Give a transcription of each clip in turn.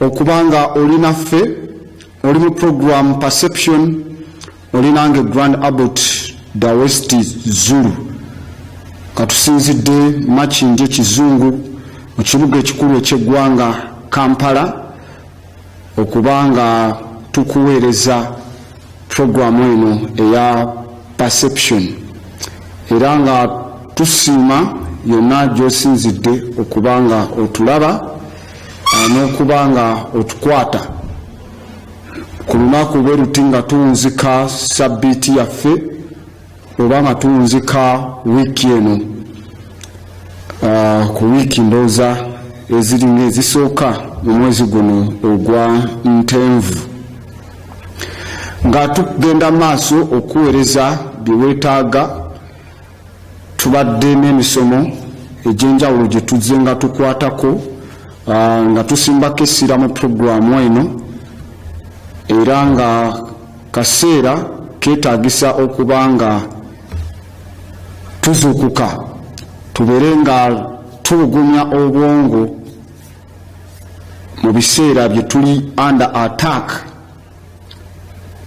okubanga oli naffe oli mu program perception oli nange grand abbot dawesti zulu katusinzidde makindye kizungu mu kibuga ekikulu ekyeggwanga kampala okuba nga tukuweereza puroguramu eno eya perception era nga tusiima yonna gyosinzidde okuba nga otulaba n'okuba nga otukwata ku lunaku bwe luti nga tunzika sabbiiti yaffe oba nga tunzika wiiki eno ah, ku wiiki ndooza eziringa ezisooka mu mwezi guno ogwa ntenvu nga tugenda maaso okuweereza bye weetaaga Tubadde n'emisomo egy'enjawulo gye tuzze nga tukwatako ah, nga tusimbako essira mu pulogulaamu eno era nga kaseera keetaagisa okuba nga tuzuukuka tubeere nga tubugumya obwongo mu biseera bye tuli under attack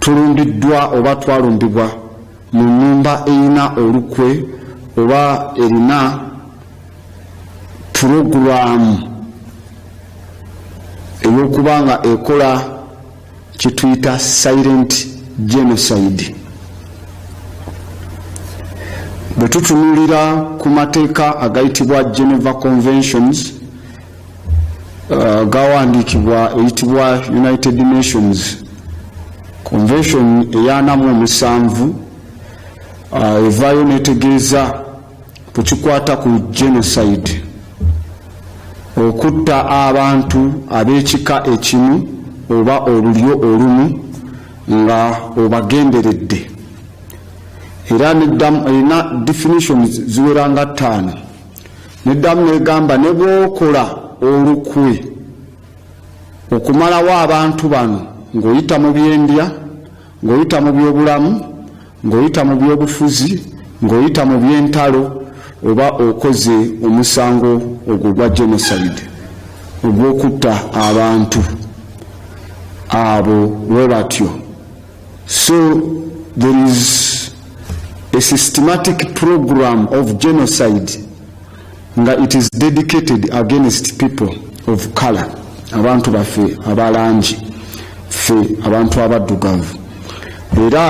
Tulumbiddwa oba twalumbibwa mu nnyumba erina olukwe oba erina pulogulaamu ey'okuba nga ekola kituyita silent genocide bwe tutunulira ku mateeka agayitibwa geneva conventions uh, gawandiikibwa eyitibwa United Nations Convention eyanamu omusanvu uh, evaayo netegeeza ku kikwata ku genocide okutta abantu ab'ekika ekimu oba olulyo olumu nga obagenderedde era erina definitions ziweranga ttaano Neddamu negamba ne bw'okola olukwe okumalawo abantu bano ng'oyita mu byendya, ng'oyita mu byobulamu, ng'oyita mu byobufuzi, ng'oyita mu byentalo oba okoze omusango ogwo ogwa genocide ogw'okutta abantu abo bwe batyo. So there is a systematic program of genocide nga it is dedicated against people of color abantu baffe abalangi ffe abantu abaddugavu era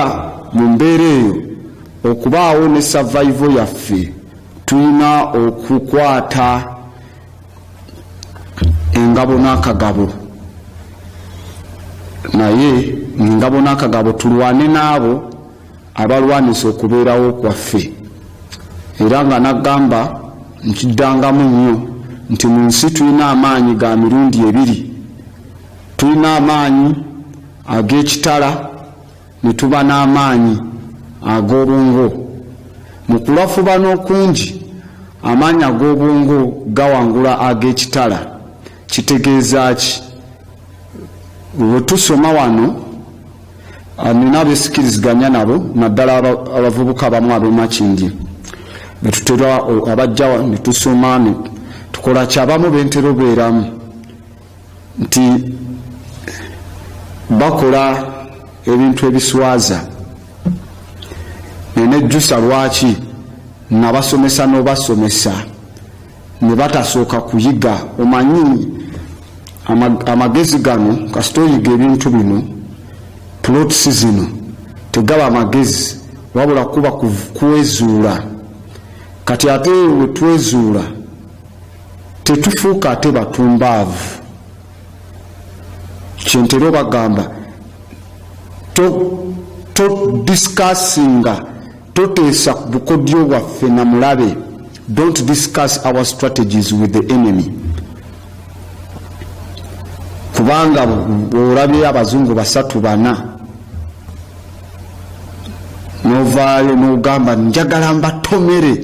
mu mbeera eyo okubaawo ne survival yaffe tulina okukwata engabo n'akagabo naye ng'engabo n'akagabo tulwane n'abo abalwanisa okubeerawo kwaffe era nga nagamba nkiddangamu nnyo nti mu nsi tulina amaanyi ga mirundi ebiri tulina amaanyi ag'ekitala ne tuba n'amaanyi ag'obwongo. Mu kulafubana okungi, amaanyi ag'obwongo gawangula ag'ekitala. Kitegeeza ki? Bwe tusoma wano, nina abesikiriziganya nabo, naddala abavubuka abamu ab'e Makindye, be tutera abajja ne tusoma ne tukola ki, abamu be ntera obeeramu. nti bakola ebintu ebiswaza nenejjusa lwaki nga basomesa nobasomesa ne batasooka kuyiga omanyi amagezi gano kasita oyiga ebintu bino plots zino tegaba amagezi wabula kuba kwezuula kati ate wetwezuula tetufuuka ate batumbaavu kyentera obagamba to, to discussinga toteesa ku bukodyo bwaffe na mulabe don't discuss our strategies with the enemy kubanga olabye abazungu basatu bana novaayo nogamba njagala mbatomere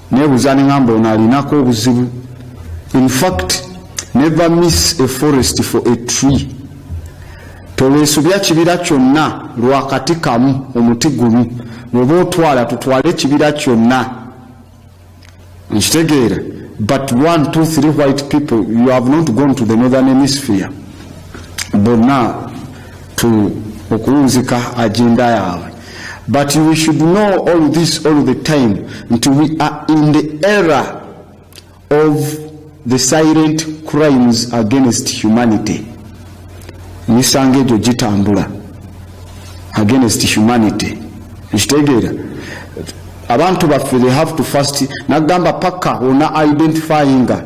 Nebuza nengamba ono alinako obuzibu infact never miss a forest for a tree tolwesubya kibira kyonna lwakati kamu omuti gumu bwoba otwala tutwale ekibira kyonna nkitegeera but one two three white people you have not gone to the northern hemisphere bonna okuwunzika agenda yaabwe but we should know all this all the time nti we are in the era of the silent crimes against humanity emisango egyo gitambula against humanity ekitegeera abantu baffe they have to first nagamba paka ona identifyinga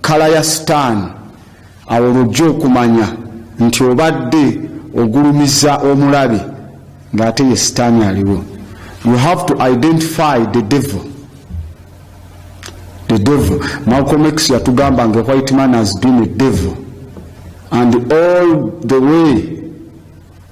kala ya stan Awo lw'ojja okumanya nti obadde ogulumiza omulabe ng'ate ye sitaani aliwo. You have to identify the devil. The devil. Malcolm X yatugamba nga white man has been a devil and all the way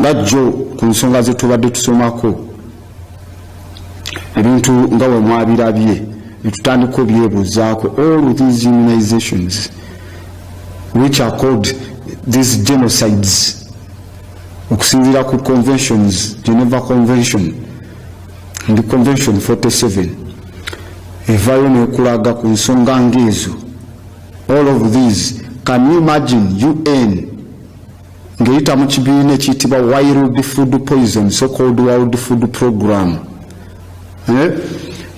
nga jjo ku nsonga ze tubadde tusomako ebintu nga we mwabirabye netutandika obyebuuzaako all these immunizations which are called these genocides okusinziira ku conventions geneva convention ndi convention 47 evaayo nekulaga ku nsonga ngaezo all of these can you imagine un ng'eyita mu kibiina ekiyitibwa wild food poison so called world food program eh?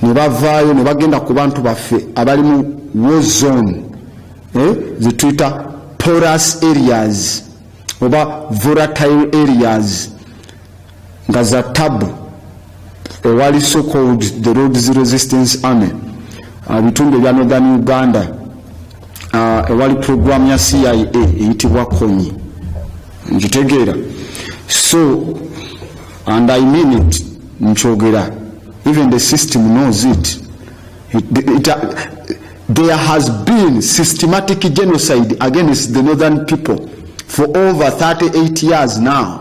ne bavaayo ne bagenda ku bantu baffe abali mu war zone eh? zetuyita porous areas oba volatile areas nga za tabu owali so called the roads resistance army ebitundu ebya northern uganda ewali program ya cia eyitibwa konyi nkitegeera so and i mean it nkyogera even the system knows it, it, it, it there has been systematic genocide against the northern people for over 38 years now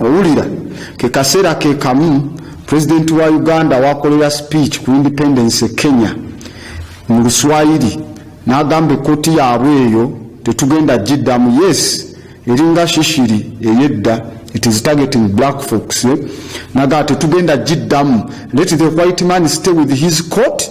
Owulira, ke kaseera ke kamu pulezidenti wa Uganda waakolera sipiiki ku independence e Kenya mu Luswayiri n'agamba ekkooti yaabwe eyo tetugenda giddamu yes eringa shishiri eyedda it is targeting black folks eh? nagaa tetugenda giddamu let the white man stay with his court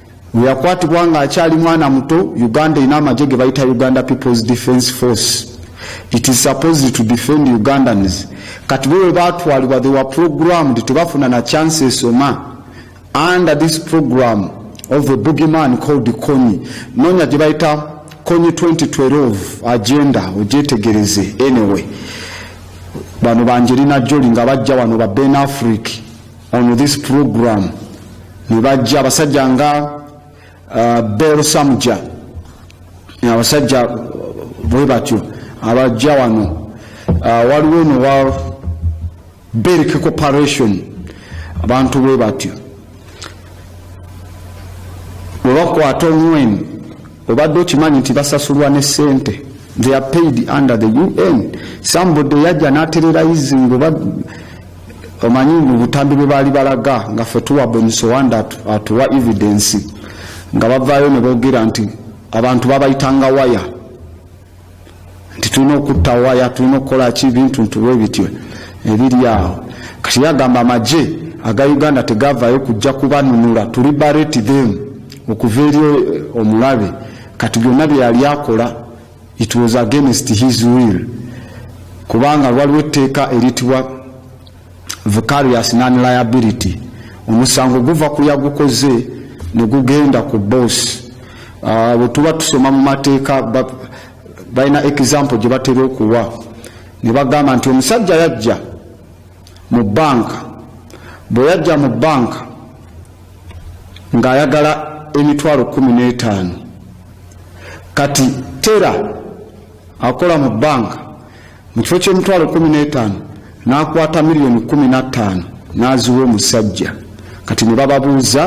weyakwatibwa ng'akyali mwana muto uganda erina amagye ge bayita uganda peoples defence force it is supposed to defend ugandans kati bo bwe baatwalibwa they were programmed tebafuna na chance esoma under this program of a boogeyman called konyi noonya gye bayita konyi 2012 agenda ogyetegereze anyway bano banjerina joli nga bajja wano ba ben africa on this program nebajja abasajja nga uh, bel samuja abasajja bwe batyo abajja wano uh, waliwo eno wa berk corporation abantu bwe batyo webakwata omwenu obadde okimanyi nti basasulwa ne sente they are paid under the un somebody yajja natererayizinga oba omanyi mu butambi bwe baali balaga nga ffe tuwa bonisowanda atuwa evidence nga bavaayo ne boogera nti abantu babayitanga waya nti tulina okutta waya tulina okukola ki bintu ntuwe bityo ebiri awo kati yagamba amagye aga uganda tegavaayo kujja kubanunula tuli bareti them okuva eri omulabe kati byonna byeyali akola It was against his will kubanga waliwo etteeka eritibwa vicarious non liability omusango guva ku yagukoze ne gugenda ku boss ah, bwe tuba tusoma mu mateeka balina example gye batera okuwa ne bagamba nti omusajja yajja mu banka bwe yajja mu banka ng'ayagala emitwalo kkumi n'etaano kati tera akola mu bbanka mu kifo ky'emitwalo kkumi n'etaano n'akwata miliyoni kkumi na ttaano n'aziwa omusajja kati ne bababuuza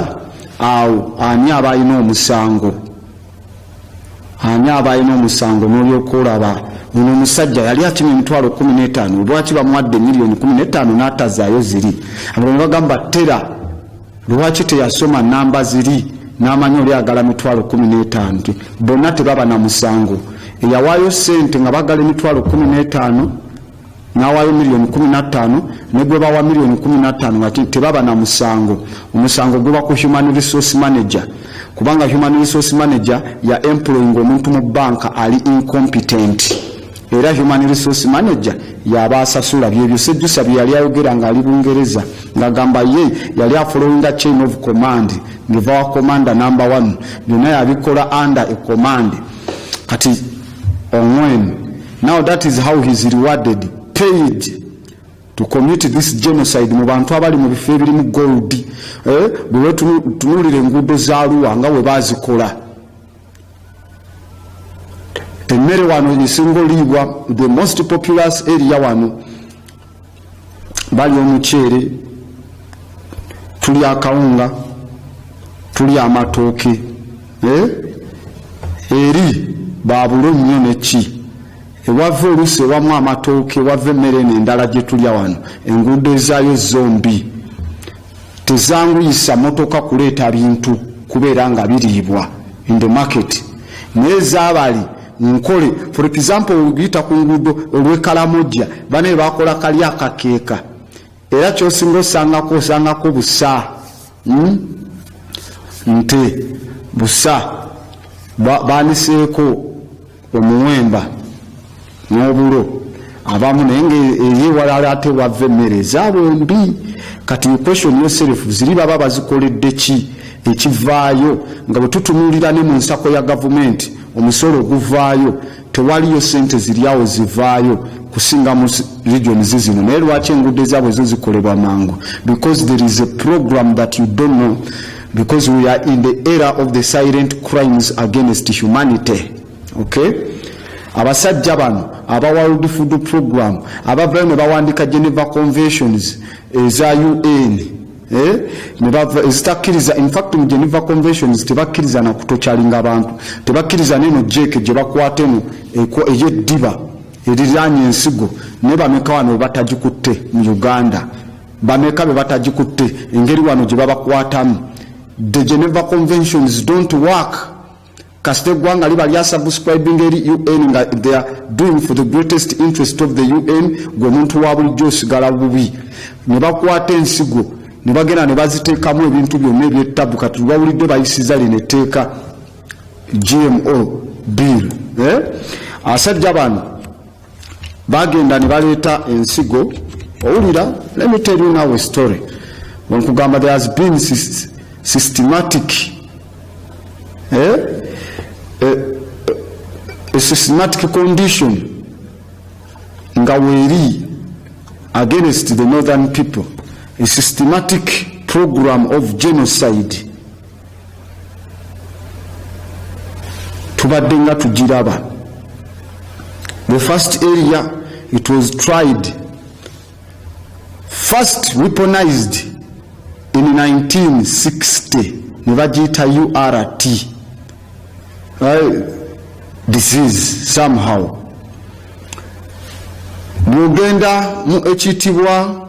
awo ani aba alina omusango Ani aba alina omusango n'olyoka olaba ono omusajja yali akima emitwalo kumi n'etaano lwaki bamuwadde miliyoni kumi n'etaano n'atazaayo ziri abalala ne bagamba tera lwaki teyasoma namba ziri n'amanyi oli agala mitwalo kumi n'etaano nti bonna tebaba na musango eyawaayo ssente nga bagala emitwalo kumi n'etaano n'awaayo miliyoni kkumi na ttaano ne gwe bawa miliyoni kkumi na ttaano nga tebaba na musango omusango guba ku human resource manager kubanga human resource manager ya employing omuntu mu banka ali incompetent era human resource manager yaba asasula byebyo sejjusa bye yali ayogera ng'ali bungereza ng'agamba ye yali afolowinga chain of command ngeva wa commander number one byonna yabikola under a command kati ongwen Now that is how he is rewarded, paid to commit this genocide mu bantu abali mu bifo ebirimu gold eh, bwe tunulira enguudo za Arua nga we bazikola emmere wano esinga oliibwa the most populous area wano bali omuceere tuli akawunga tuli amatooke eh? eri babulo nnyo neki ewava oluusi ewamu amatooke ewava emmere eno endala gye tulya wano enguudo ezaayo zombi Tezanguyisa motoka kuleeta bintu kubeera nga biriibwa in the market naye zabali nkole for example ogiyita ku nguudo olwekalamojja banaye bakola kali akakeeka era kyosinga osangako osangako busa hmm? nte busa baniseeko omuwemba n'obulo abamu naye nga eri ewalala ate wava emmere ezaabwe mbi kati question yoself ziri baba bazikoledde ki ekivaayo nga bwe tutunuulira ne mu nsako ya gavumenti omusolo oguvaayo tewaliyo sente ziryawo zivaayo kusinga mu region zizino naye lwaki enguudo ezaabwe zo zikolebwa mangu because there is a program that you don't know because we are in the era of the silent crimes against humanity okay abasajja bano aba world food program abavayo ne bawandika geneva conventions eza un eh? ezitakkiriza infact mu geneva conventions tebakkiriza nakutokyalinga abantu tebakkiriza neno jeke gye bakwata eno eyeddiba eriranye ensigo naye bameka wano batagikutte mu uganda Bameka bebatagikutte engeri wano gyebabakwatamu the Geneva conventions don't work kasita eggwanga liba lya subscribing eri UN nga they are doing for the greatest interest of the UN gwe omuntu wa bulijjo osigala bubi ne bakwata ensigo ne bagenda ne baziteekamu ebintu byonna ebyettabu kati lwawulidde bayisiza lino etteeka GMO bill eh? asajja bano Bagenda ne baleeta ensigo owulira let me tell you now a story bwe nkugamba there has been systematic eh? a, eh, eh, a systematic condition nga weeri against the northern people a systematic program of genocide tubadde nga tugiraba the first area it was tried first weaponized in 1960 ne bagiyita urt uh, disease somehow bwogenda mu ekitibwa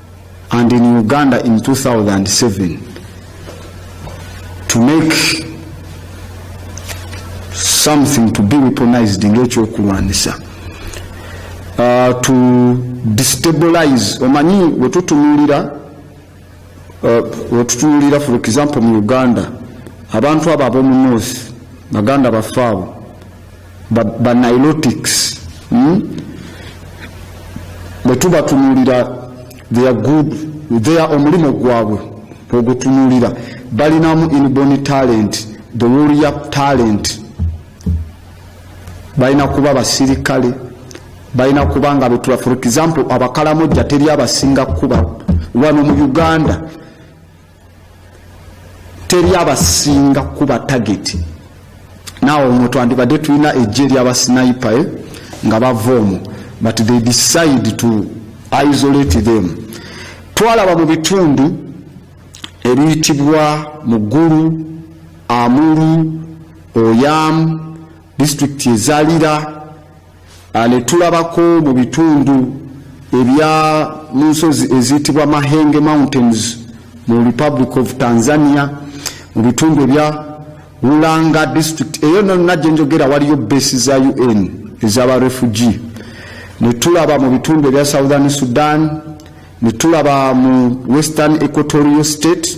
and in Uganda in 2007 to make something to be weaponized ngekyokulwanisa uh, to destabilize omanyi wetutunulira uh, wetutunulira for example mu uganda abantu abo abomu north baganda baffe abo banilotics hmm? bwetubatunulira their good their omulimu gwabwe ogutunulira balinamu inborn talent the warrior talent balina kuba basirikale balina kuba nga betula for example abakalamojja teri abasinga kuba wano mu uganda teri abasinga kuba tageti naawe omwo twandibadde tulina ejje lyabasinipa eh, nga bava omwo but they decide to isolate them twalaba mu bitundu ebiyitibwa mugulu amulu oyamu disitulikiti ezalira Ah, ne tulabako mu bitundu ebya mu nsozi eziyitibwa mahenge mountains mu republic of tanzania mu bitundu ebya ulanga district eyo nonna gye njogera waliyo besi za un ezaba refugi ne tulaba mu bitundu ebya southern sudan ne tulaba mu western equatorial state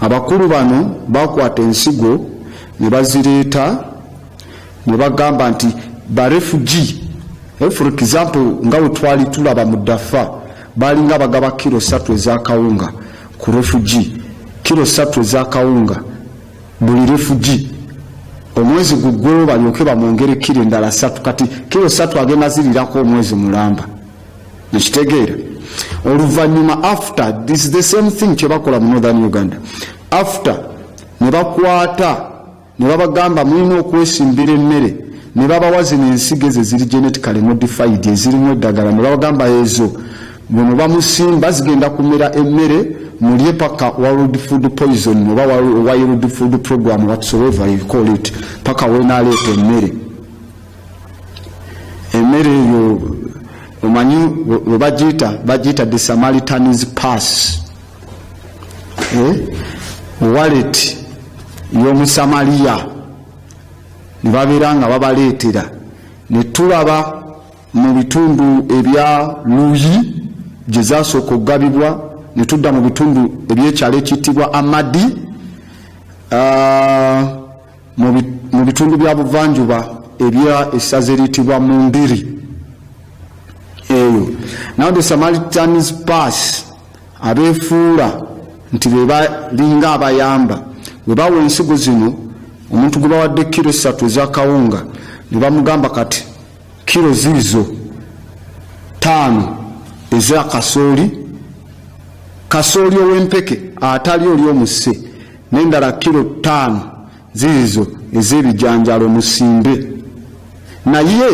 Abakulu bano baakwata ensigo ne bazireeta ne bagamba nti barefugi eh, for example nga we twali tulaba mu dafa baalinga bagaba kiro satu ezakawunga ku refugi kiro satu ezakawunga buli refugi omwezi guggwewo balyoke bamwongere kiro endala satu kati kiro satu agenda zirirako omwezi mulamba ekitegeera oluvanyuma after this the same thing kyebakola mu northern uganda after nebakwata nebabagamba mulina okwesimbira emmere nebabawa zino ensigo ezo eziri genetically modified ezirimu eddagala nebabagamba ezo bwemuba musimba zigenda kumera emmere mulye paka world food poison oba world food program whatsoever you call it paka wenaleeta emmere emmere eyo omanyi we bagiyita bagiyita the samaritans pass eh? wallet y'omusamaliya ne babeera nga babaleetera ne tulaba mu bitundu ebya luyi gye zasooka okugabibwa ne tudda mu bitundu ebyekyalo ekiyitibwa amadi uh, Mu bitundu bya buvanjuba ebya essaza eriyitibwa Mundiri, eyo now the Samaritans pass abeefuula nti be balinga abayamba bwe bawa ensigo zino omuntu gwe bawadde kiro essatu ezakawunga ne bamugamba kati kiro ziizo taano eza kasooli kasooli ow'empeke atali oli omusse n'endala kkiro ttaano ziizo ez'ebijanjaalo musimbe. Naye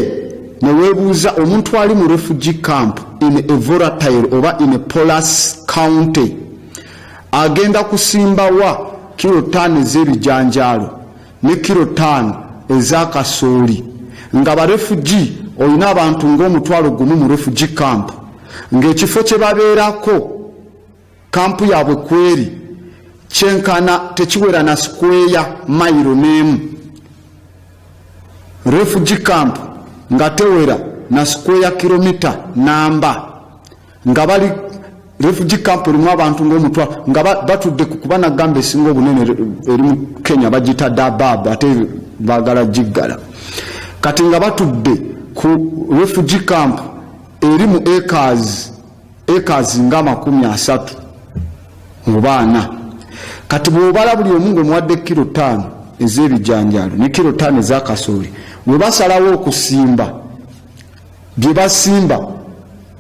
ne weebuuza omuntu ali mu refugee camp in a volatile oba in a polas county agenda kusimba wa kkiro ttaano ez'ebijanjaalo ne kkiro ttaano eza kasooli nga barefugi olina abantu ng'omutwalo gumu mu refugi camp ng'ekifo kye babeerako Kampu yaabwe kweri kyenkana tekiwera na sikweya mayiro n'emu. Refugee camp nga tewera na sikweya kilomita namba nga bali refugee camp erimu abantu ng'omutwa nga batudde ku kuba nagamba esinga obunene eri mu Kenya bagita Dadaab ate baagala giggala kati nga batudde ku refugee camp eri mu acres acres nga amakumi asatu oba ana kati bwobala buli omu ngaomuwadde kiro taano ez'ebijanjaalo ne kiro taano ezakasooli bwe basalawo okusimba bye basimba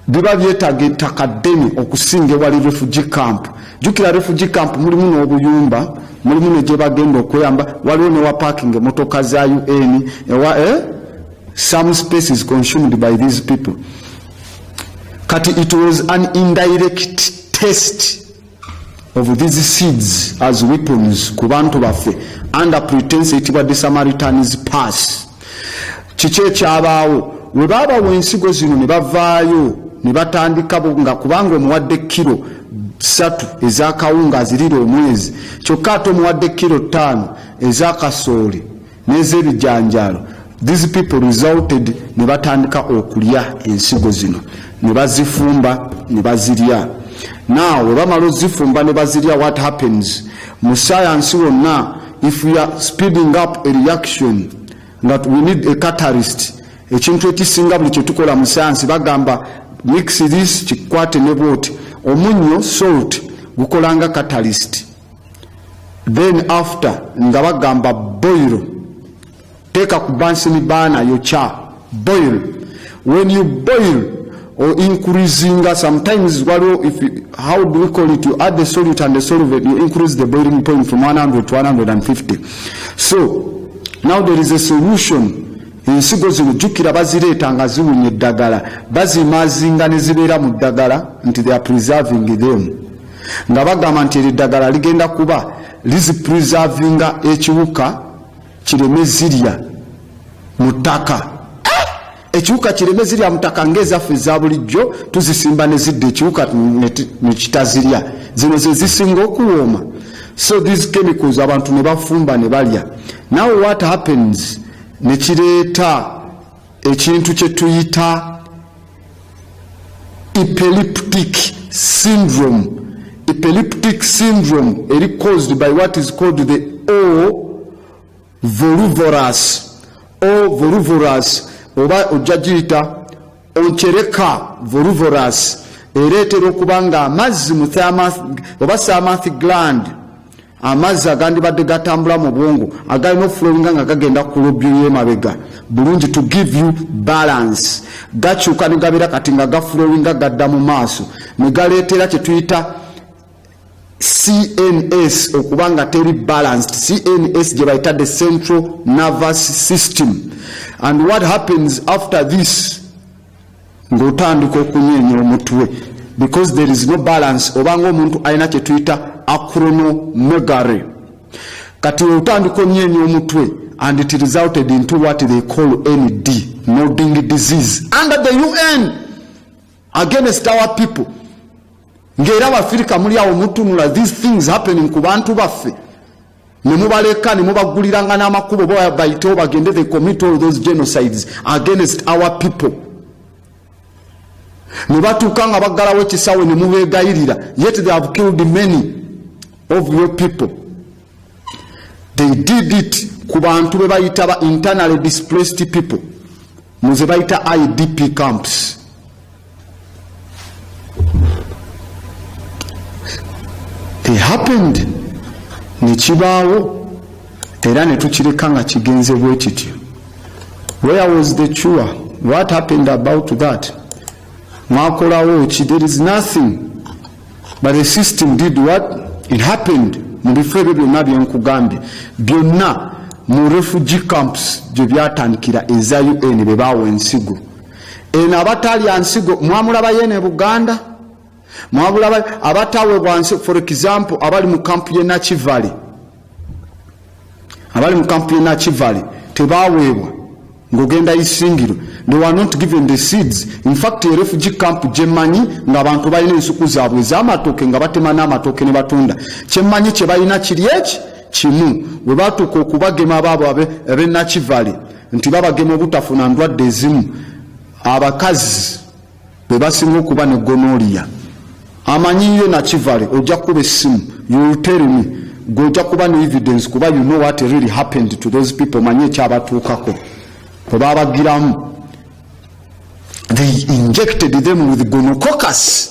biba byetaaga ettaka ddene okusinga ewali refugi camp jukira refugi camp mulimu n'obuyumba mulimu ne gye bagenda okweyamba waliwo ne wa parking emotoka za un ewa eh? some spaces consumed by these people kati it was an indirect test of these seeds as weapons ku bantu baffe under pretense etibwa the samaritans pass kiki ekyabaawo we baabawa ensigo zino ne bavaayo ne batandika nga kubanga omuwadde kiro satu ezakawunga azirira omwezi kyokka ate omuwadde kiro ttaano ezakasooli n'ezebijanjaalo these people resulted ne batandika okulya ensigo zino ne bazifumba ne bazirya now we bamala ozifumba ne bazirya what happens mu sayansi wonna if we are speeding up a reaction that we need a catalyst ekintu ekisinga buli kyetukola mu sayansi bagamba mix this kikwate ne bwoti omunyo salt gukolanga catalyst then after nga bagamba boil teeka ku bansini baana yokya boil when you boil or increasinga sometimes waliwo if how do we call it you add the solute and the solvent you increase the boiling point from 100 to 150 so now there is a solution ensigo zino jjukira bazireeta nga ziwunya eddagala bazimaazinga ne zibeera mu ddagala nti they are preserving them nga bagamba nti eddagala ligenda kuba lizipurizavinga ekiwuka kireme zirya mu ttaka eh! ekiwuka kireme zirya mu ttaka ngaezaffe eza bulijjo tuzisimba ne zidda ekiwuka ne kitazirya zino ze zisinga okuwooma so these chemicals abantu ne bafumba ne balya now what happens ne kireeta ekintu kye tuyita epileptic syndrome epileptic syndrome eri caused by what is called the o voluvorous o voluvorous oba ojja giyita onkyereka voluvorous era etera okuba nga amazzi mu oba samath gland amazzi agandibadde gatambula mu bwongo agalina okufulowinga nga gagenda ku lobyo y'emabega bulungi to give you balance gakyuka ne gabeera kati nga gafulowinga gadda mu maaso ne galeetera kye tuyita cns okuba nga teri balanced cns gye bayita the central nervous system and what happens after this ng'otandika okunyeenya omutwe because there is no balance obanga omuntu alina kye tuyita acronomegary kati otandika onyeenya omutwe and it resulted into what they call nd nodding disease under the un against our people ng'era abafirika muli awo mutunula these things happening ku bantu baffe ne mubaleka ne mubagguliranga n'amakubo oba bayitewo bagende they commit all those genocides against our people ne batuuka nga baggalawo ekisawe ne mubeegayirira yet they have killed many of your people they did it ku bantu be bayita ba internally displaced people muze bayita idp camps happened nekibaawo era netukireka nga kigenze bwe kityo where was the cure what happened about that mwakolawo ki there is nothing but the system did what it happened mu bifo ebyo byonna byenkugambye byonna mu refugee camps gye byatandikira eza un be baawa ensigo eno abatalya nsigo mwamulabayo eno e buganda mwamulabayo abatawebwa nsi for example abali mu kampu ye nakivale abali mu kampu ye nakivale tebaweebwa ng'ogenda isingiro they were not given the seeds in fact e refugee camp gyemanyi ng'abantu balina ensuku zaabwe ez'amatooke nga batema n'amatooke ne batunda kyemmanyi kye balina kiri eki kimu bwe batuuka okubagema baabo abe nakivale nti babagema obutafuna ndwadde ezimu abakazi bwe basinga okuba ne gonoliya amanyi yo nakivale ojja kukuba essimu yultelmi gwe ojja kuba ne evidence kuba you know what really happened to those people manyi ekyabatuukako kwe babagiramu they injected them with gonococus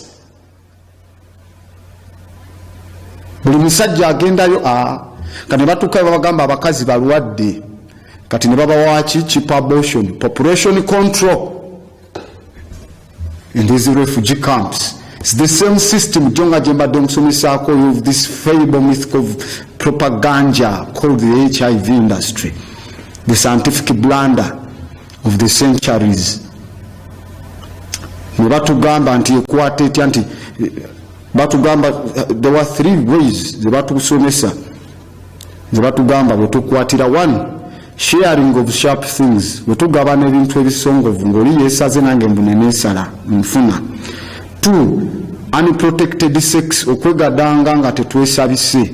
buli musajja agendayo a nga ne batuukayo babagamba abakazi balwadde kati ne babawaki chip abortion population control in these refugee camps It's the same system jo nga gye mbadde nkusomesaako of this fable myth of propaganda called the hiv industry the scientific blunder of the centuries ne batugamba nti ekwata etya nti batugamba there were three ways ze batusomesa ze batugamba bwe tukwatira one sharing of sharp things bwe tugabana ebintu ebisongovu ng'oli yeesaze nange mbune neesala nfuna two unprotected sex okwegadanga nga tetwesabise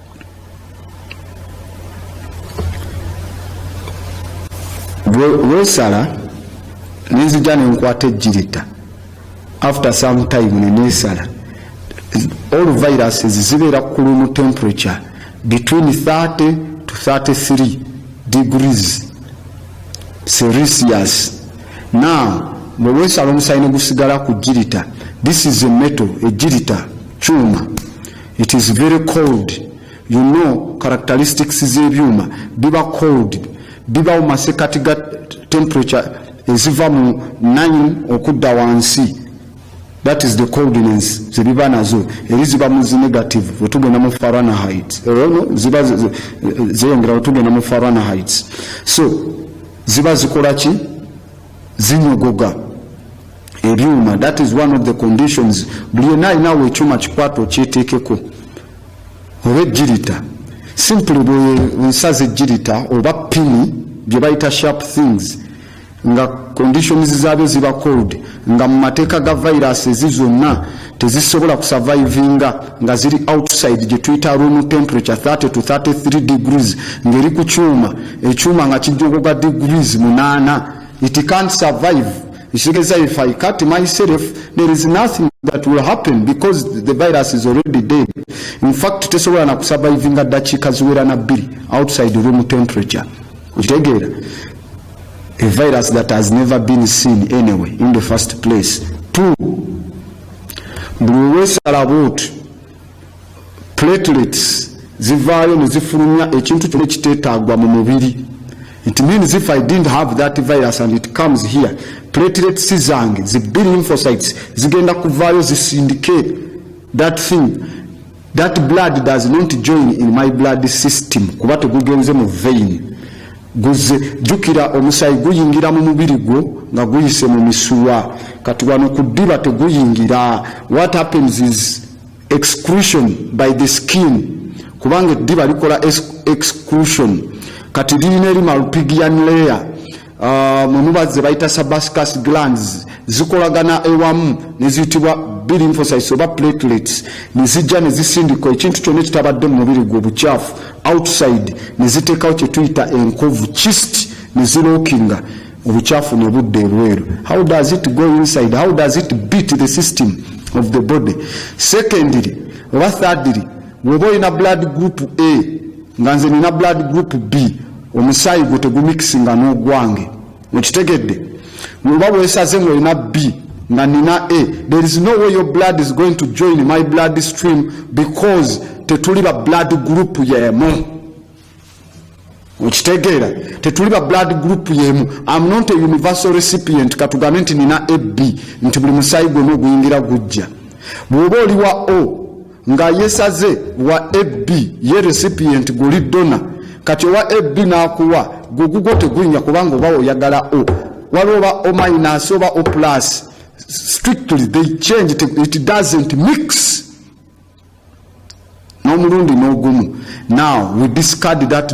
wesala nenzija nenkwata ejjirita after some time nenesala all viruses zibeera kulumu temperature between 30 to 33 degrees serisius now bwewesala omusayi negusigala ku jirita this is a metal ejirita kyuma It is very cold you know characteristics z'ebyuma biba cold bibawo masekati ga temperature eziva mu 9 okudda wansi that is the coldness zebiba nazo eri ziba muzi negative wetugenda mu faranahit erono ziba zeyongera wetugenda mu faranahit so ziba zikola ki zinyogoga ebyuma that is one of the conditions buli yena alinawo ekyuma kikwata okyetekeko oba ejjirita simply bwensaza ejjirita oba pini bye bayita sharp things nga conditions zabyo ziba cold nga mu mateeka ga viruses zonna tezisobola kusavaivinga nga ziri outside gyetuyita room temperature 30 to 33 degrees ngeri ku kyuma ekyuma nga kijjogoga degrees munaana it can't survive ekitegeeza if i cut myself there is nothing that will happen because the virus is already dead in fact tesobola na kusavaivinga ddakiika ziwera na bbiri outside room temperature okitegeera a virus that has never been seen anyway in the first place two buli wewesala bwoti platelets zivaayo nezifulumya ekintu kyona ekiteetaagwa mu mubiri it means if i didn't have that virus and it comes here platelets zange zibiri infocytes zigenda kuvaayo zisindike that thing That blood does not join in my blood system kuba tegugenze mu vein guze jukira omusayi guyingira mu mubiri gwo nga guyise mu misuwa kati wano ku ddiba teguyingira what happens is exclusion by the skin kubanga eddiba likola exclusion kati lirina eri malpigian layer Ah, mwe muba ze bayita sabascas glands zikolagana ewamu neziyitibwa bilymphocytes oba platelets nezijja nezisindika ekintu kyonna ekitabadde mu mubiri gwe obukyafu outside neziteekawo kyetuyita enkovu chist nezilookinga obukyafu nebudda ebweru how does it go inside how does it beat the system of the body secondly oba thirdly woba olina blood group a nga nze nina blood group b Omusaayi gwo tegumikisinga n'ogwange. Okitegedde? Oba bwesaze nga olina bbi nga nina a there is no way your blood is going to join my blood stream because tetuli ba blood group yemu okitegeera tetuli ba blood group yemu am not a universal recipient katugambe nti nina ab nti buli musaayi gwona oguyingira gujja bwoba oli wa o nga yesaze wa ab ye recipient guli dona kati owa ab nakuwa gugugo tegunya kubanga oba oyagala o waliwo oba o minus oba o plus strictly they change it doesn't mix n'omulundi n'ogumu now we discard that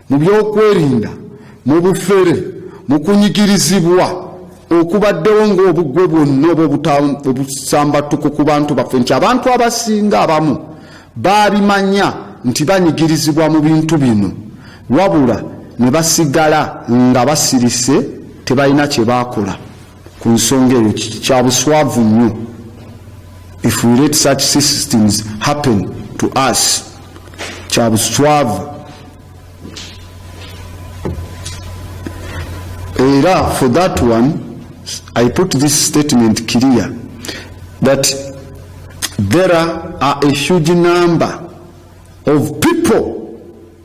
mu byokwerinda mu bufere mu kunyigirizibwa okubaddewo ng'obugwe bwonna oba obusambattuko ku bantu baffe nti abantu abasinga abamu baabimanya nti banyigirizibwa mu bintu bino wabula ne basigala nga basirise tebalina kye baakola Ku nsonga eyo kya buswavu nnyo if we let such systems happen to us kya buswavu era for that one i put this statement clear that there are a huge number of people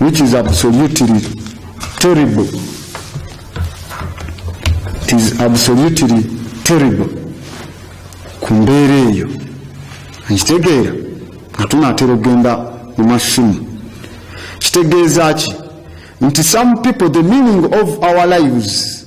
which is absolutely terrible. It is absolutely terrible ku mbeera eyo nkitegeera nga tunaatera okugenda mu masimu kitegeeza ki nti some people the meaning of our lives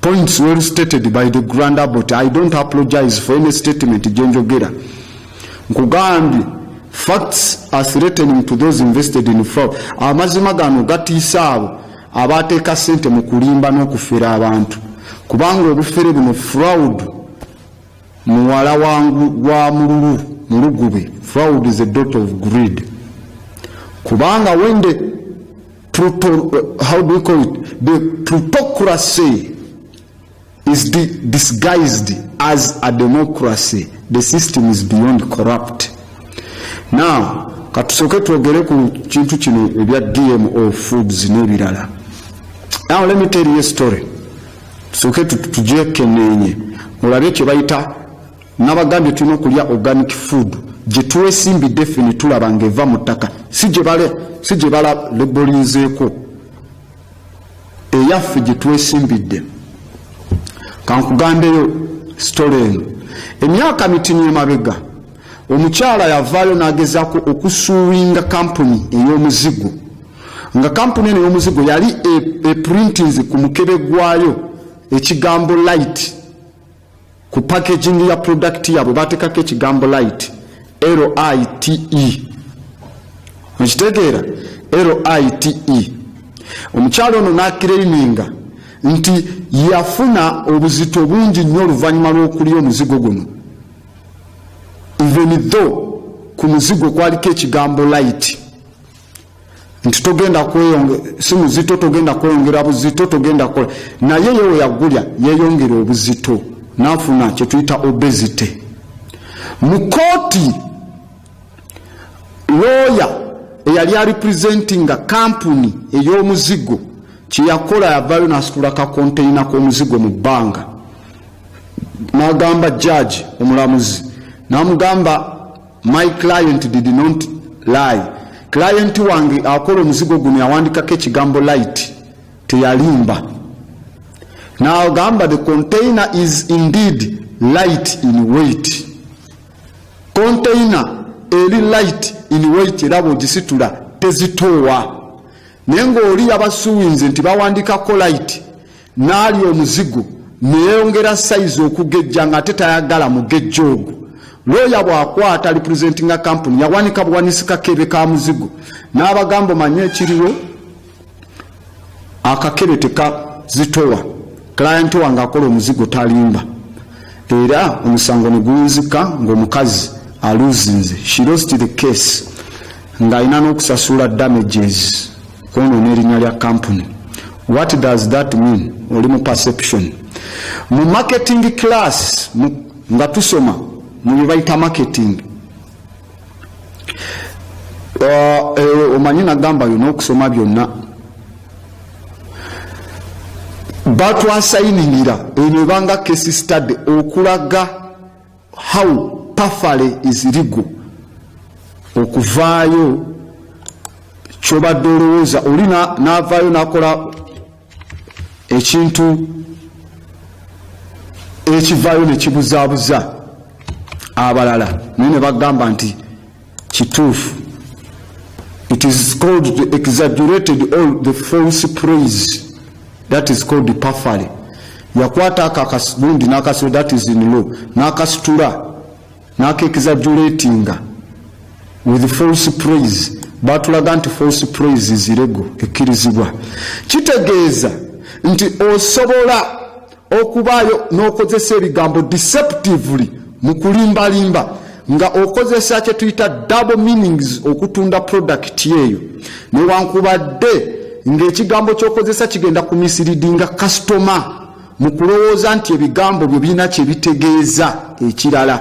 Points well stated by the grand abbot. I don't apologize for any statement jenjogera. Nkugambye facts are threatening to those invested in fraud. Amazima gano gatiisa abo abateeka sente mu kulimba n'okufera abantu kubanga obufere buno fraud muwala wangu wa mululu mulugube fraud is a dot of greed kubanga when the Pluto, uh, how do we call it? The plutocracy is di disguised as a democracy. The system is beyond corrupt. Now, katusoke twogere ku kintu kino ebya DMO foods n'ebirala. Now let me tell you a story. Tusoke tujekenenye. Mulabe kye bayita Nabagambye tulina okulya organic food gyetwesimbidde ffe netulaba nga eva mu ttaka si gye balebolinzeeko eyaffe gyetwesimbidde kankugambeyo sitole eno emyaka mitini emabega omukyala yavaayo nagezaako okusuuwinga kampuni ey'omuzigo nga kampuni eno ey'omuzigo yali eprintinze e ku mukebe gwayo ekigambo light ku packaging ya product yabwe batekako ekigambo light lite okitegeera lite omukyalo ono nakireininga nti yafuna obuzito bungi nnyo oluvannyuma lw'okulya omuzigo guno even though ku muzigo kwaliko ekigambo light nti togenda kweyonge si muzito togenda kweyongera buzito togenda kola naye ye weyagulya yeyongera obuzito nafuna kyetuyita obesity mu kooti looya eyali arepresentinga kampuni ey'omuzigo kyeyakola yavayo nasitula kakonteyina k'omuzigo mu bbanga n'agamba jaaji omulamuzi n'amugamba My client did not lie. Client wange akola omuzigo guno yawandikako ekigambo light teyalimba. Now gamba the container is indeed light in weight. Container eri light in weight era bwogisitula tezitoowa. Naye ng'oli yabasuwinze nti bawandikako light N'alya omuzigo ne yeeyongera sayizi okugejja ng'ate tayagala mugejjo ogwo. Looya bw'akwata alipulizentinga kkampuni yawanika buwanisi kakebe ka muzigo n'abagamba omanyi ekiriwo akakebe tekazitowa kilayenti wange akola omuzigo talimba era omusango ne guwunzika ng'omukazi aluzinze she lost the case ng'alina n'okusasula damages Kwonoona erinya lya company. What does that mean? Oli mu perception. Mu marketing class mu, nga tusoma mu bibayita marketing. Uh, eh, omanyi nagamba yo n'okusoma byonna batwasayiningira eno ebanga case study okulaga how pafale izirigu okuvaayo kyobadde olowooza oli navaayo nakola ekintu ekivaayo nekibuzaabuza abalala naye ne bagamba nti Kituufu. It is called the exaggerated all the false praise that is called the pafale yakwata ako akasigundi nakasiro that is in law nakasitula nakexaggeratinga with false praise batulaga nti false praise zirego ekkirizibwa kitegeeza nti osobola Okubaayo n'okozesa ebigambo deceptively mu kulimbalimba nga okozesa kye tuyita double meanings okutunda product eyo newankubadde ng'ekigambo ky'okozesa kigenda ku misiriidinga kasitoma mu kulowooza nti ebigambo byo birina kye bitegeeza ekirala.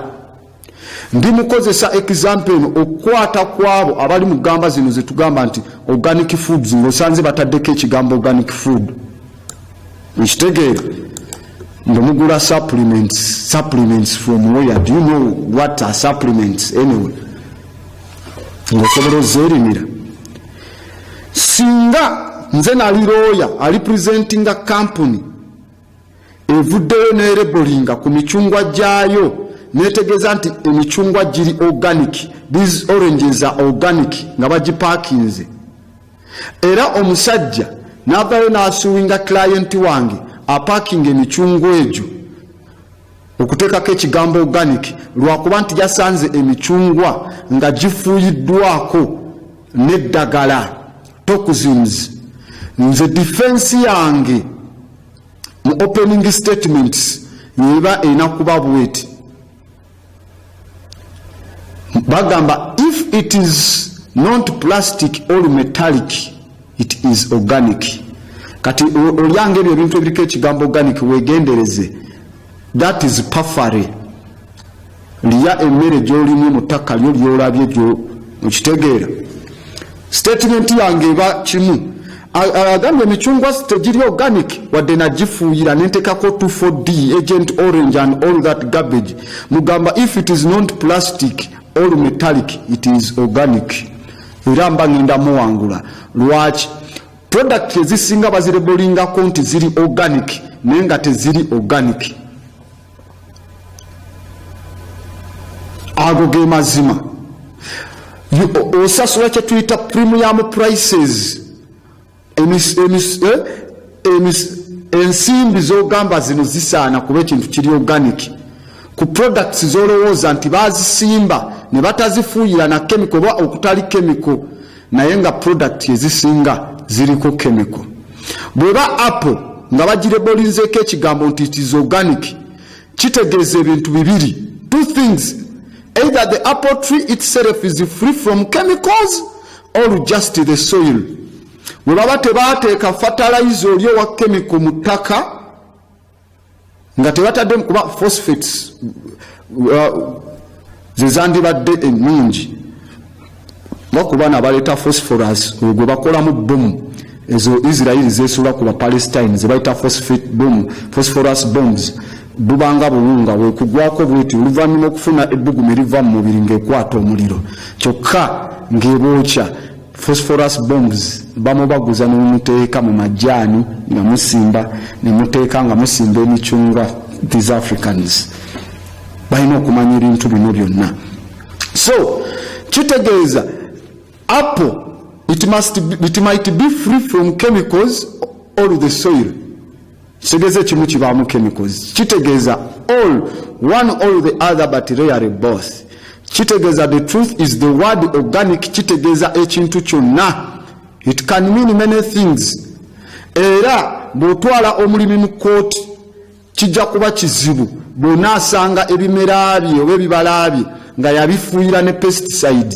Ndi mukozesa example eno okukwata kwabo abali mu gamba zino zetugamba nti organic foods ngosanze bataddeko ekigambo organic food nkitegeera nga mugula supplements supplements from where do you know what are supplements anyway ngaosobola ozeerimira singa nze nali looya ali presentinga kampuni evuddeyo nerebolinga ku micungwa gyayo netegeeza nti emicungwa giri organic these oranges are organic nga bagipakinze era omusajja navayo nasuwinga client wange apakinga emicungwa egyo okuteekako ekigambo organic lwakuba nti yasanze emicungwa nga gifuuyiddwako n'eddagala toxins nze difensi yange mu opening statements yeba erina kuba bweti bagamba if it is not plastic or metallic it is organic kati olyanga ebyo ebintu ebiriko ekigambo organic wegendereze that is pafare lya emmere gyolimu mu ttaka lyo lyolabye gyo mukitegeera Statement yange eba kimu agambye emicungwa tegiri organic wadde nagifuuyira nentekako 24d agent orange and all that garbage mugamba if it is not plastic or metallic it is organic era mba ngenda muwangula lwaki product ezisinga bazirebolingako nti ziri organic naye nga teziri organic ago ge mazima osasula kyetuyita premium prices eh, ensimbi zogamba zino zisaana kuba ekintu kiri organic ku products zolowooza nti bazisimba ne batazifuuyira na kemiko oba okutali kemiko naye nga product ezisinga ziriko chemical bweba apple nga bagirebolinzeeko ekigambo nti it is organic kitegeeza ebintu bibiri two things either the apple tree itself is free from chemicals or just the soil webaba tebateeka fertilizer oli owa chemical mu ttaka nga tebataddemu kuba phosphates uh, zezandibadde ennungi nga ku baana baleeta phosphorus oyo gwe bakolamu bomu ezo israeli zesuula ku bapalestine zebayita phosphorus bombs bubanga buwunga bwekugwako bweti oluvannyuma okufuna ebbugumu eriva mu mubiri ng'ekwata omuliro kyokka ng'ebookya phosphorus bombs bamubaguza nemumuteeka mu majaani nga musimba nemuteeka nga musimba emicungwa these africans balina okumanya ebintu bino byonna so kitegeeza apple it, must be, it might be free from chemicals or the soil Kitegeza ekimu kibaamu chemicals. Kitegeza all one all the other but rarely both. Kitegeza the truth is the word organic kitegeza ekintu kyonna. It can mean many things. Era bw'otwala omulimi mu kkooti kijja kuba kizibu bw'onaasanga ebimera bye oba ebibala bye nga yabifuuyira ne pesticide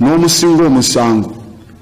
n'omusinga omusango.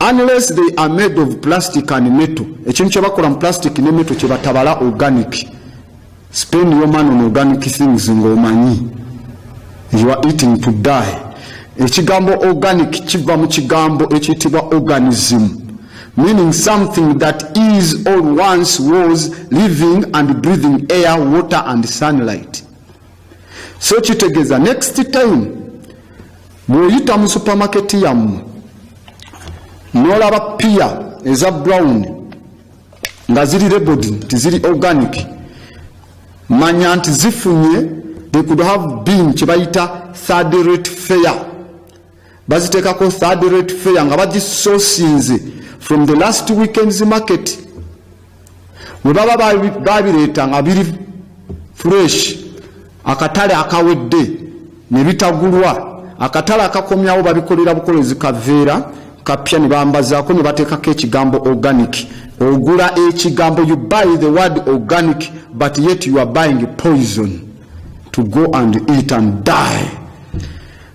unless they are made of plastic and metal ekintu kyebakola mu plastic ne metal kyebatabala organic spend your man on organic things ngaomanyi you are eating to die ekigambo organic kiva mu kigambo ekiyitibwa organism meaning something that is or once was living and breathing air water and sunlight so kitegeza next time bwoyita mu supermarket yammwe nolaba piya eza brown nga ziri rebod nti ziri organic manya nti zifunye they could have been kyebayita third rate fair bazitekako third rate fair nga bagisosinze from the last weekends market webaba babireeta nga biri fresh akatale akawedde nebitagulwa akatale akakomyawo babikolera bukolezi kaveera kapya nebambazaako nebateekako ekigambo organic ogula ekigambo you buy the word organic but yet you are buying poison to go and eat and die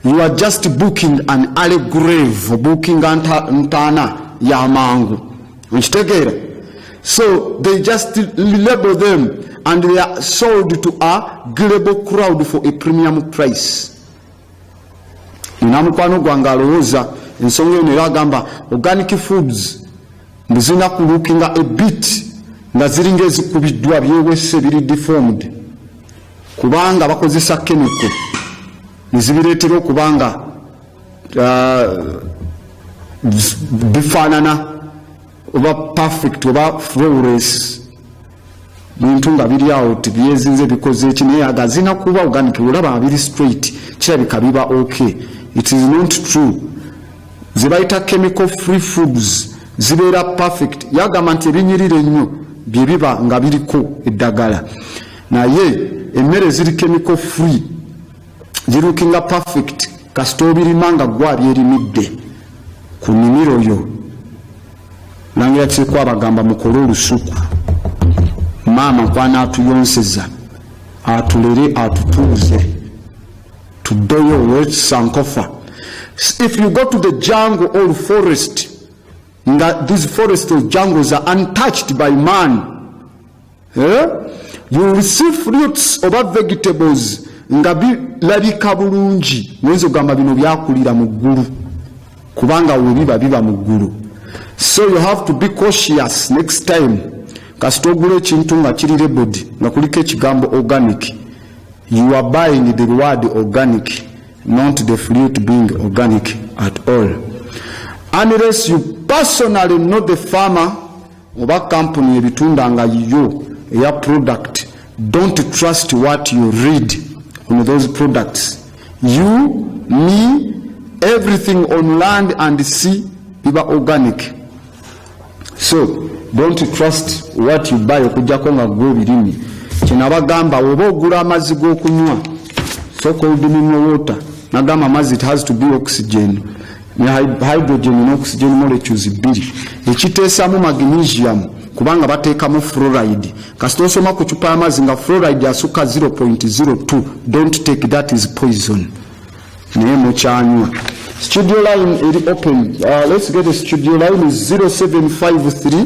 You are just booking an early grave, booking ntana ya mangu. Unchitegeera? So they just label them and they are sold to a global crowd for a premium price. Nina mukwano gwange alowooza ensonga eno era agamba organic foods mbu zirina kulukinga a bit nga ziringa ezikubiddwa byewese biri deformed kubanga bakozesa chemical ne zibireetera okuba nga uh, bifaanana oba perfect oba flores muntu nga biri awo tibyezinze bikoze eki naye agazina kuba organic olaba abiri straight kirabika biba ok it is not true zebayita chemical free foods zibeera perfect yagamba nti ebinyirira ennyo bye biba nga biriko eddagala Naye emmere ziri chemical free zirukinga perfect kasita obirima nga gwa byerimidde ku nimiro yo langira kiriko abagamba mukole olusuku maama kwana atuyonseza atulere atutuuze tudeyo olwekisankofa if you go to the jungle or forest nga these forest or jungles are untouched by man Eh? You receive fruits oba vegetables nga bilabika bulungi ngenza ogamba bino byakulira mu ggulu kubanga webiba biba mu ggulu so you have to be cautious next time kasita ogula ekintu nga kiri rebodi nga kuliko ekigambo organic you are buying the word organic not the fruit being organic at all unless you personally know the farmer oba kampuni ebitunda nga yiyo eya product don't trust what you read on those products you me everything on land and sea biba organic so don't trust what you buy okujjako nga gwe ebirimi kyenabagamba oba ogula amazzi g'okunywa so called mineral water nagamba amazzi it has to be oxygen ne hydrogen n'oxygen molecules bbiri ekiteesamu magnesium kubanga bateekamu fluoride kasita osoma ku cupa y'amazzi nga fluoride asukka 0.02 don't take that is poison naye mukyanywa studio line eri open uh, let's get the studio line is 0753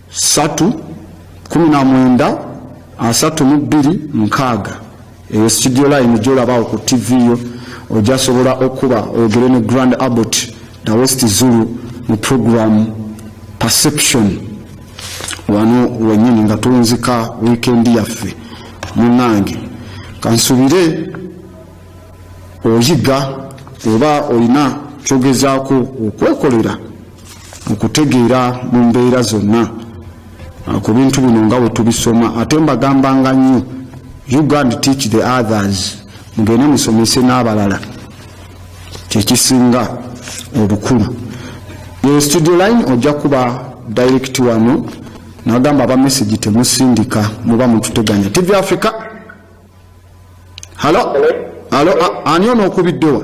satu kumi na mwenda asatu mu bbiri nkaaga eyo studio line gyolabawo ku tv yo ojasobola okuba oyogere ne grand abbot the west zulu mu program perception wano wenyini nga tunzika wiikendi yaffe munange kansubire oyiga oba olina kyogezaako okwekolera mu kutegeera mu mbeera zonna uh, ku bintu bino nga bwe tubisoma ate mbagambanga nnyo you go and teach the others mugende musomese n'abalala kyekisinga obukulu e studio line ojja kuba direct wano nagamba aba message temusindika muba mututeganya tv africa halo halo ani ono okubiddewa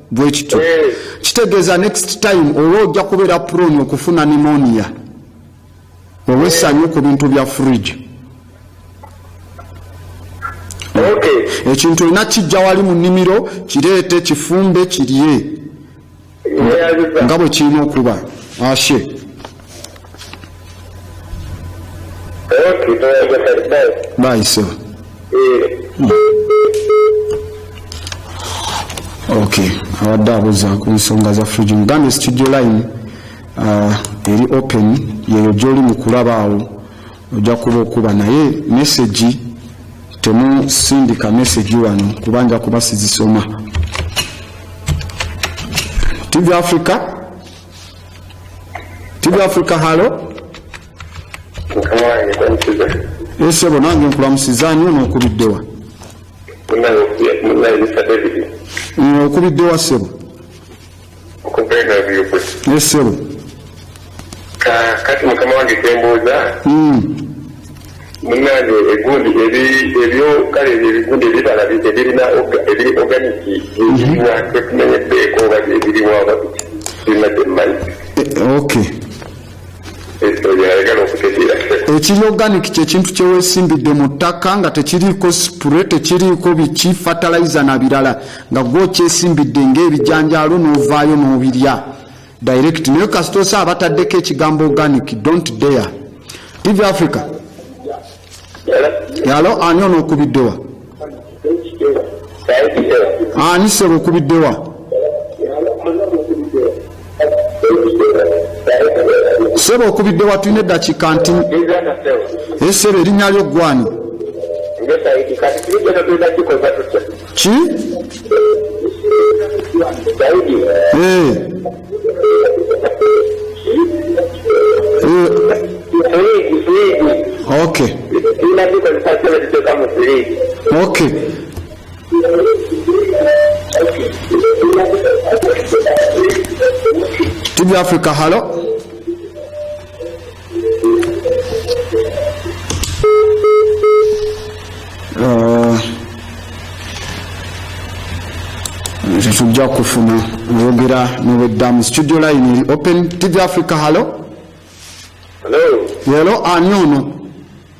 bwekityo eh. kitegeeza next time olwa ojja kubeera prone okufuna nimonia olwesanyu ku bintu bya fridge ekintu olina kijja wali mu nnimiro kireete kifumbe kirye nga bwe kirina okuba ashe Bye, sebo. Okay, abadde abuza ku nsonga za fridge mugambye studio line uh, eri open yeyo gyoli mu kulaba awo ojja kuba okuba naye mesegi temusindika mesegi wano kuba nja kuba sizisoma tv africa TV Africa halo esebo nange nkulamusiza ani ono okubiddewa okubiddewa sebo esebo kati mukama wange kyembuuza hmm. Munange egundi ebi ebyo kale ebyo ebigundi ebibala ebirina ebiri organic byebiriwa tetumenyeddeko oba byebiriwa oba birina byemmanyi okay ekiri organic kyekintu kyewesimbidde mu ttaka nga tekiriiko spure tekiriiko biki fataliza na birala nga gwokyesimbidde ngaebijanjaalo n'ovaayo n'obirya direct naye kasita osa abataddeko ekigambo organic don't dare tv africa yalo ani ono okubiddewa ani sebo okubiddewa sebo okubiddewa tulina eddakiika nti esebo erinnya lyo gwani ki Eh. Eh. okay okay tv africa halo Uh, tetujja kufuna oyogera nobeddamu studio line eri open tv africa hallo Hello. Hello, ani ono?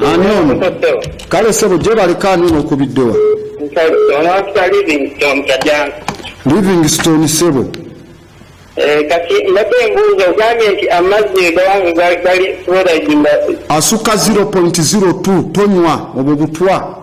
ani ono kale sebo gyebaleka ani ono okubiddewa livingston sebo eh, kati mbadde embuuza ogambye nti amazzi asuka 0.02 tonywa obwo butwa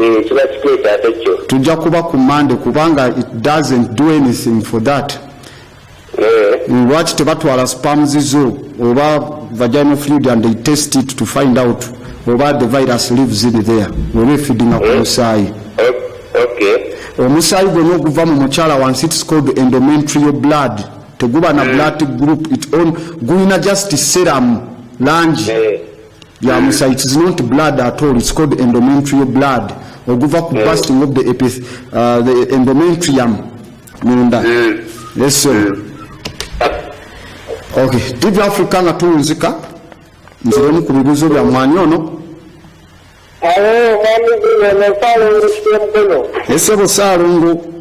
Eeh kiba kiteeso ate kyo. Tujja kuba ku Monday kubanga it doesn't do anything for that. Mm, lwaki tebatwala spams zo oba vaginal fluid and they test it to find out oba the virus lives in there oba efidinga ku eh? musaayi oh, omusaayi gwona oguva mu mukyala wansi its called endomentrio blood teguba na eh. blood group it on gulina just serum langi eh. ya musa it is not blood at all it's called endometrial blood oguva ku busting of the epith uh, the endometrium munda yes sir okay tv africa nga tunzika nziremu ku bibuzo bya mwani ono ese bo salungu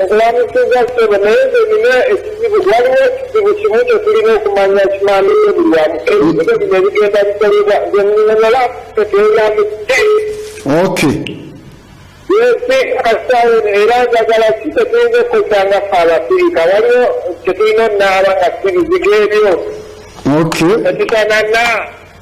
Nkuwanisiza ssebo naye nze nina ekizibu waliwo ekizibu kimu kyetulina okumanya kimande nebulwamu ebizibu bino ebigenda bikolebwa nzenala teteyamu ok yesi kasawo era njagala ki tetuyinza okukoza nga fe abafirika waliwo kyetulina onaaba nga sibizige ebyo ok ekisanana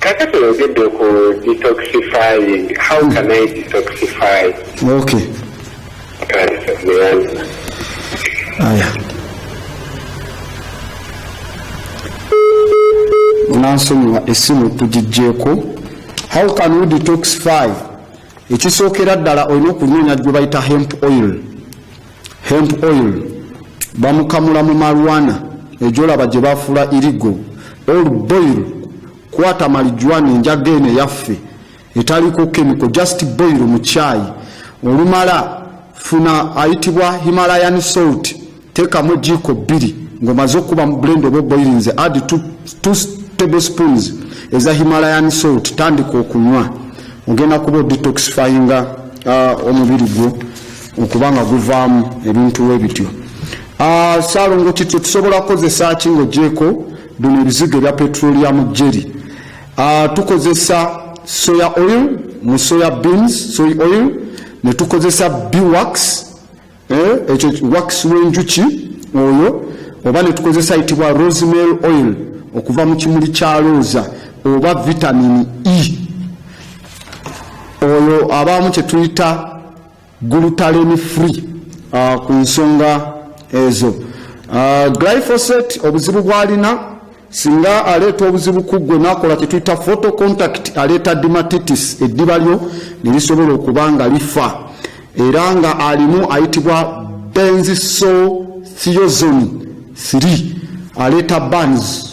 Kakati oyogedde ku detoxifying. How can I detoxify? Okay. Aya. Unansonyiwa esimu tugijjeeko. How can we detoxify? Ekisookera ddala olina okunoonya gye bayita hemp oil. Hemp oil bamukamula mu marijuana ejolaba gye bafuula irigo or boil kwata marijuana enjaga eno eyaffe etaliko kemiko just boil mu chai olumala funa ayitibwa himalayan salt teekamu ejiiko bbiri ng'omaze okukuba mu blend oba oboirinze add two table spoons eza himalayan salt tandika okunywa ogenda kuba odetoxifyinga uh, omubiri gwo okuba nga guvaamu ebintu we bityo ah, saalongo kityo tusobola kukozesa ki ngaogyeko bino ebizigo ebya petroliamu jeri ah, tukozesa soya oil mu soya beans soy oil ne tukozesa bwax eh, ekyo wax w'enjuki oyo oba ne tukozesa yitibwa rosemary oil okuva mu kimuli kya looza oba vitamini e oyo abaamu kye tuyita glutaleni free uh, ku nsonga ezo uh, glyphosate obuzibu bwalina singa aleeta obuzibu kuggwe nakola kyetuyita photo contact aleeta dimatitis eddiba lyo nerisobola okuba nga lifa era nga alimu ayitibwa benziso theozoni 3 aleeta bans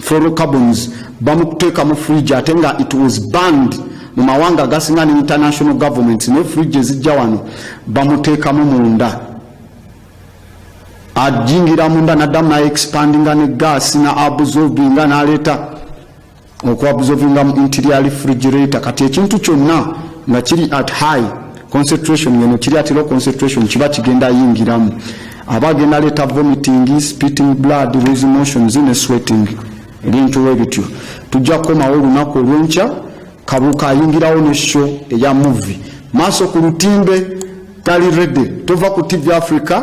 fluorocarbons bamukuteeka mu fridge ate nga it was banned mu mawanga agasinga ne international governments ne fridge ezijja wano bamuteekamu munda ajingira munda naddamu naye expandinga ne gaasi na absorbinga naleeta okuabsorbinga mu interior refrigerator kati ekintu kyonna nga kiri at high concentration yeno kiri ati low concentration kiba kigenda yingiramu aba agenda leeta vomiting spitting blood loose motions ne sweating ebintu webityo tujja kukomawo olunaku olwenkya kabuka ayingirawo ne show eya movie maaso ku lutimbe tali rede tova ku tv africa